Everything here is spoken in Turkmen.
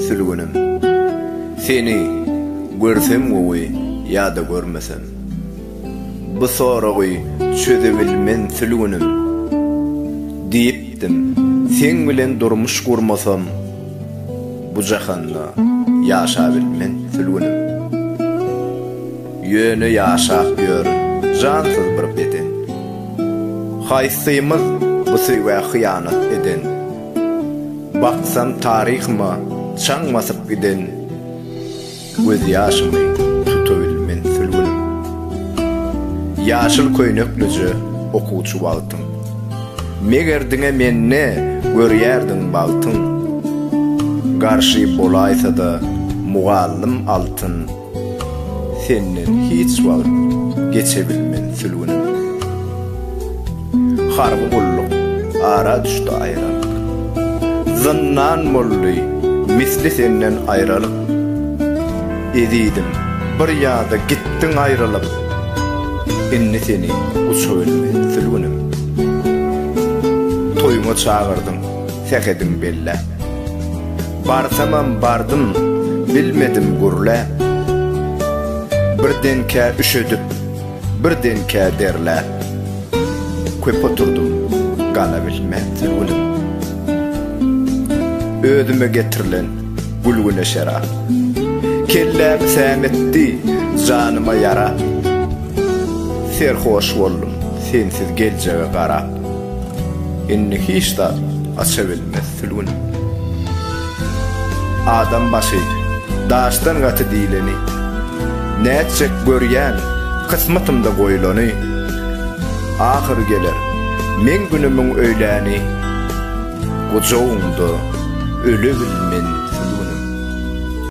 Sülgünim, seni görsem gowy ýa-da görmesem. Bu soragy çözebilmen sülgünim. Diýipdim, seň bilen durmuş gurmasam, bu jahanda ýaşabilmen sülgünim. Ýöne ýaşap ýörün jansyz bir beden. Haýsymyz bu söýgä hyýanat eden? Baksam taryhyma çaň basyp giden Göz ýaşymy tutabilmen sülgünim Ýaşyl köýneklije okuwçy wagtym Meger diňe mende görýärdiň bagtyň Garşy bolaýsada mugallym altyn Senden hiç wagt geçebilmen sülgünim Harby gulluk ara düşdi aýralyk Zyndan boldy misli senden aýralyk Ezizim bir ýada gitdiň aýralyp Indi seni uçabilmen sülgünim Toýuňa çagyrdyň sähediň belläp Barsamam bardym, bilmedim gürläp. Birdenkä üşedip, birdenkä derläp. Köp oturdym, galabilmän sögülim. Özüme getirilen gülgüne şerap. Kellämi säm etdi, janyma ýarap. Serhoş boldum, sensiz geljege garap. Indi hiç zat aça bilmez sülgüni. Adam başy daşdan gaty diýleni, Nätjek görýän kysmatymda goýlany. Ahyry geler meň günümiň öýläni, Gujagyňda öle bilmen